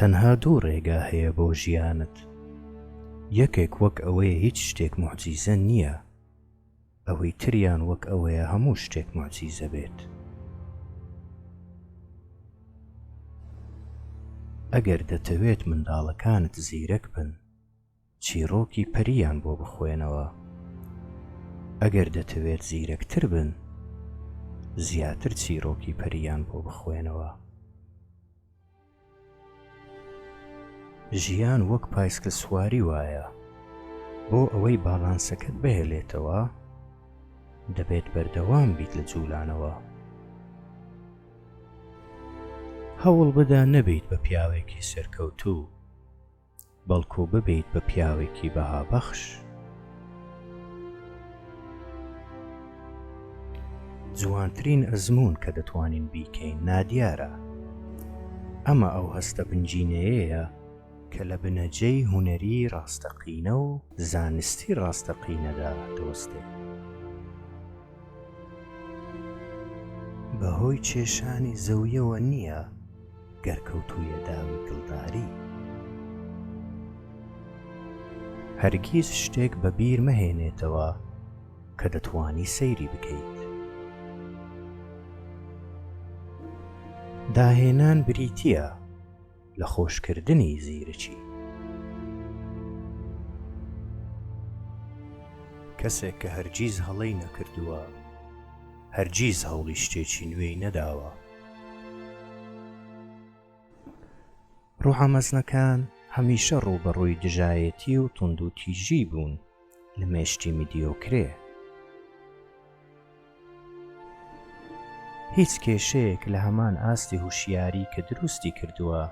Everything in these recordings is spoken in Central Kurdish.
تەنها دوو ڕێگا هەیە بۆ ژیانت، یەکێک وەک ئەوەیە هیچ شتێک موعجیزە نییە، ئەوەی تریان وەک ئەوەیە هەموو شتێک موعجیزە بێت. ئەگەر دەتەوێت منداڵەکانت زیرەک بن، چیڕۆکی پەرییان بۆ بخوێنەوە ئەگەر دەتەوێت زیرەکتر بن زیاتر چیڕۆکی پەرییان بۆ بخوێنەوە. ژیان وەک پایسکل سواری وایە بۆ ئەوەی باڵانسەکەت بهێلێتەوە دەبێت بەردەوام بیت لە جوولانەوە. هەوڵبدە نەبیت بە پیاوێکی سەرکەوتوو. بەڵکو ببیت بە پیاوێکی بەهابەخش. جوانترین ئەزموون کە دەتوانین بیکەین نادیارە. ئەمە ئەو هەستە بنجینەیەیە کە لە بنەجەی هونەری ڕاستەقینە و زانستی ڕاستەقینەدا دەوەستێت. بەهۆی کێشانی زەویەوە نییە. گەر کەوتوویە داوی دڵداری. هەرگیز شتێک بە بیر مەهێنێتەوە کە دەتوانی سەیری بکەیت. داهێنان بریتییە لە خۆشکردنی زیرکی. کەسێک کە هەرگیز هەڵەی نەکردووە، هەرگیز هەوڵی شتێکی نوێی نەداوە. ڕۆحە مەزنەکان هەمیشە ڕووبەڕووی دژایەتی و توندوتیژی بوون لە مێشکی میدیۆکرێ. هیچ کێشەیەک لە هەمان ئاستی هوشیاری کە دروستی کردووە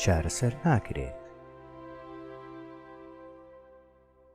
چارەسەر ناکرێت.